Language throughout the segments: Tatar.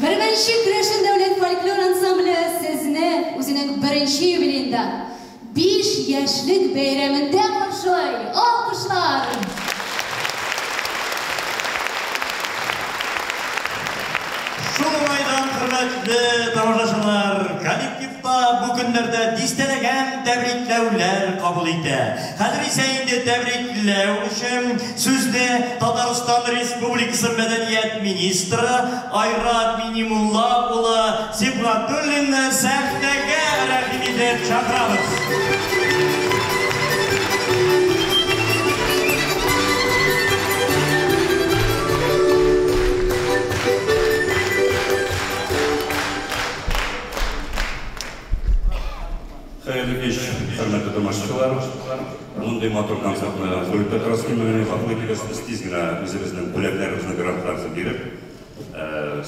Бәрмәнче керәшен дәүләт фольклор ансамбле сезне үзенең беренче юбилеенда, биш яшьлек бәйрәмендә каршылый! Алкышлар! Шул уңайдан, хөрмәтле тамашачылар, коллектив. та бу көннәрдә дистәләгән тәбрикләүләр кабул итә. Хәзер исә инде тәбрикләү өчен сүзне Татарстан Республикасы мәдәният министры Айрат Миңимулла улы Сибгатуллинны сәхнәгә рәхим итеп чакырабыз. Хәерле кич, хөрмәтле тамашачылар. Мондый матур концертны Флүрд Петровский мәдәни халык итегез. Без тиз генә үзебезнең бүләкләребезне, грантларыбызны биреп,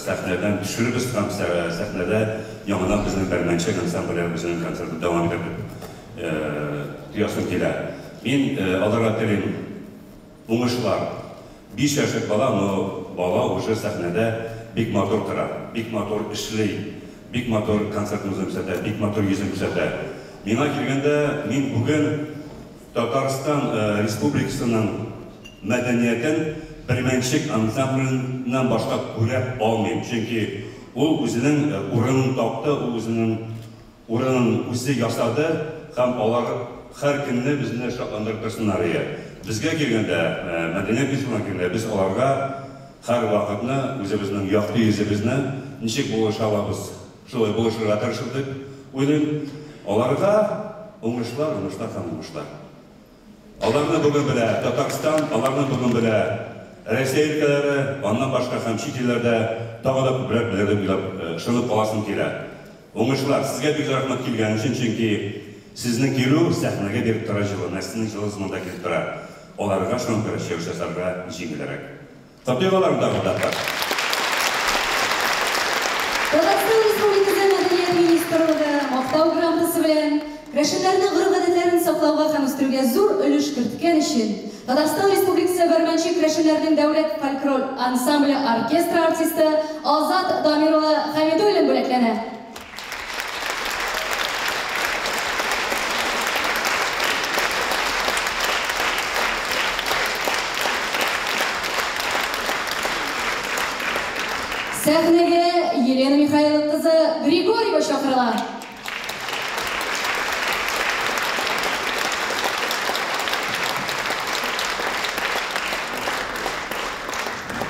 сәхнәдән төшеребез һәм сәхнәдә яңадан безнең Бәрмәнче ансамбле үзенең концертын дәвам итәр дип тоясым килә. Мин аларга телим. Уңышлар! Биш яшьлек бала, но бала уже сәхнәдә бик матур тора, бик матур эшли, бик матур концертын үзен күрсәтә, бик матур йөзен күрсәтә. Миңа килгәндә, мин бүген Татарстан Республикасының мәдәниятен Бермәнчек ансамбленнан башка күрә алмыйм, чөнки ул үзенең урынын тапты, ул үзенең Урынын үзе ясады һәм алар һәр көнне безне шатландырып торсыннар иде. Безгә килгәндә, Мәдинә Гыйшевнага килгәндә, без аларга һәрвакытны үзебезнең якты йөзебезне ничек булыша алабыз, шулай булышырга тырышып дип уйлыйм. Аларга уңышлар, уңышлар һәм уңышлар. Аларны бүген белә Татарстан, аларны бүген белә Рәсәй өлкәләре, аннан башка һәм чит илләрдә тагы да күбрәк белер дип уйлап, ышанып каласым килә. Уңышлар! Сезгә бик рәхмәт килгән өчен, чөнки Сезнең килү сәхнәгә биреп тора җылы, Нәсимнең җылысы монда килеп тора, аларга шуңа күрә чыгыш ясарга җиңелрәк. Табигылар да монда бар. Татарстан Республикасы Мәдәният министрлыгы Мактау грамотасы белән керәшеннәрнең гореф-гадәтләрен саклауга һәм үстерүгә зур өлеш керткән өчен Татарстан Республикасы Бәрмәнче керәшеннәрнең дәүләт фольклор ансамбле оркестры артисты Азат Дамир улы Хәмидуллин бүләкләнә. Сәхнәгә Елена Михайлова кызы Григорьева чакырыла.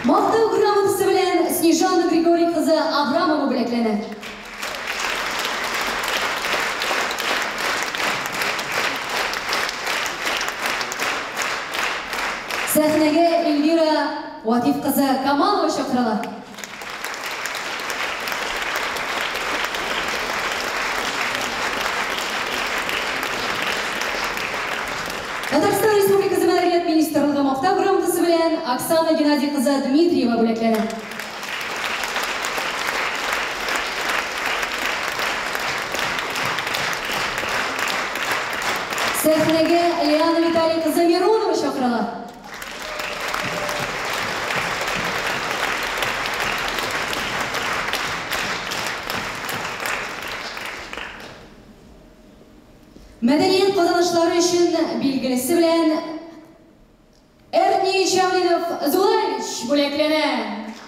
Мактау грамотасы белән Снежана Григорий кызы Абрамова бүләкләнә. Сәхнәгә Эльвира Ватиф кызы Камалова чакырыла. Татарстан Республикасы Мәдәният министрлыгы Мактау грамотасы белән Оксана Геннадий кызы Дмитриева бүләкләнә. Сәхнәгә Лиана Виталий кызы Миронова чакырыла. Мәдәният казанышлары өчен билгелесе белән Эрни Җәмилов Зуевич бүләкләнә.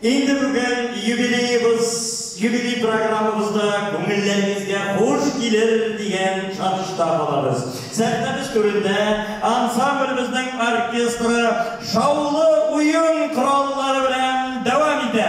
Инде бүген юбилеебыз, юбилей программабызда күңелләрегезгә хуш килер дигән ышанычта калабыз. Сәхнәбез түрендә ансамблебезнең оркестры шаулы уен кораллары белән дәвам итә.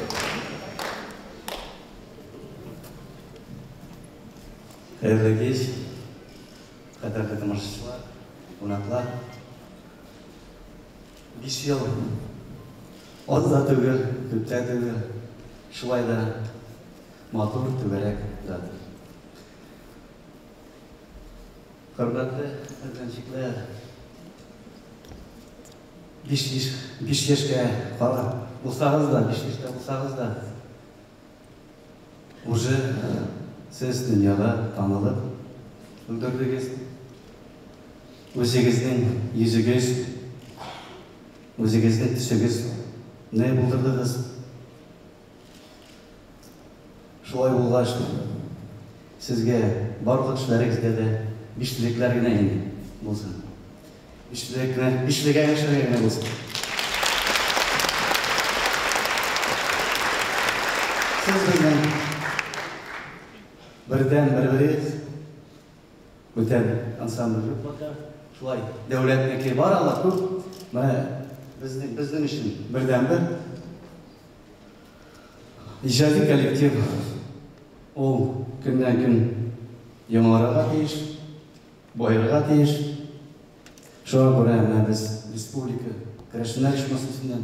Хәерле кич, кадерле тамашачылар, кунаклар. Биш ел аз да түгел, күп тә түгел, шулай да матур түгәрәк ятыр. Хөрмәтле әткәнчекләр, Биш биш биш яшькә кала булсагыз да, биш яшькә булсагыз да, уже сез дөньяга танылып өлгердегез. Үзегезнең йөзегез, үзегезнең төсегезне булдырдыгыз. Шулай булгач, сезгә барлык эшләрегездә дә биштелекләр генә инде булсын. Биштелекләр, бишлегә яшәргә генә булсын. Сез безнең бердән беребез, бүтән ансамбль группада шулай дәүләтнеке бар ала күп, менә безнең өчен бердәнбер. Иҗади коллектив ул көннән-көн яңарырга тиеш, баерырга тиеш. Шуңа күрә менә без республика керәшеннәр оешмасы исеннән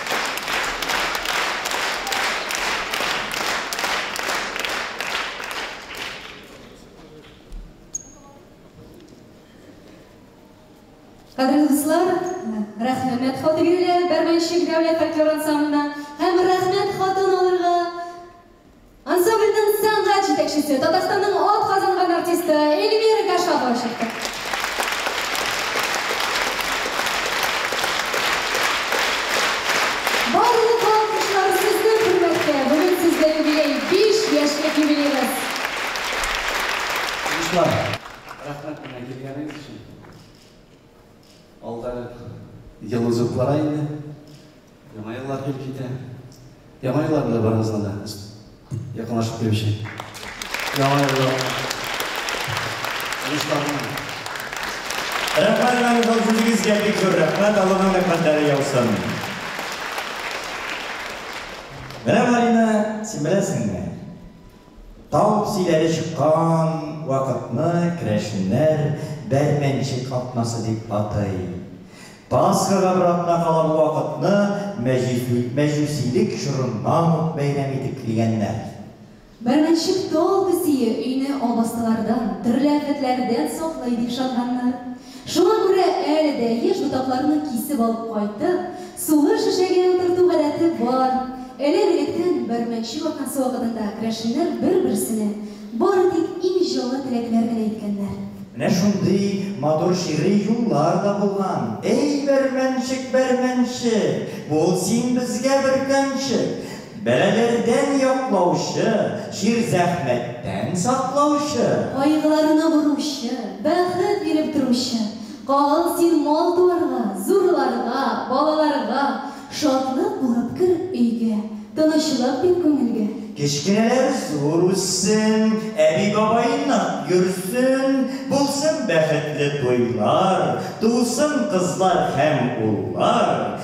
Кадерле дуслар, Рәхмәмәт Хатыйбиләр Бәрмәнчек дәүләт фольклор ансамбленә һәм Рәхмәт хатын алырга Ансамбльнең сәнгать җитәкчесе, Татарстанның ат казанган артисты Эльвира Гашапова чыкты. Барлык алкышлар сезнең хөрмәткә! Бүген сездә юбилей, биш яшьлек юбилегыз! Уңышлар! Рәхмәт миңа килгәнегез өчен. Алда ел узып бара инде. Яңа еллар килеп китә. Яңа еллар белән барыгызга да якынлашып килүче. Яңа еллар. Уңышларны. Рәхмәт мәңгелек үзегезгә бик зур рәхмәт, Аллаһның рәхмәтләре яусын. Менә Марина, син беләсеңме? Таң силәре чыккан вакытны керәшеннәр Бәрмәнчек атнасы дип атый. Пасхага бер атна кала бу вакытны мәҗүсилек чорыннан ук бәйрәм итеп килгәннәр. Бәрмәнчек тал песие өйне албастылардан, төрле афәтләрдән саклый дип ышанганнар. Шуңа күрә әле дә еш ботакларны кисеп алып кайтып, сулы шешәгә утырту гадәте бар. Элек-электән Бәрмәкче вакасы вакытында крәшиннәр бер-берсенә бары тик иң җылы теләкләр генә әйткәннәр. Менә шундый матур шигъри юллар да булган. Әй, Бәрмәнчек, Бәрмәнчек! Бул син безгә бөркәнчек! Бәлаләрдән яклаучы, җир зәхмәттән саклаучы. Кайгыларны боручы, бәхет биреп торучы. Кагыл син мал-туарга, зурларга, балаларга. Шатлык булып кер өйгә, тынычлык бир күңелгә. Кечкенәләр зур үссен, әби-бабай нык йөрсен. Булсын бәхетле туйлар, тусын кызлар һәм уллар.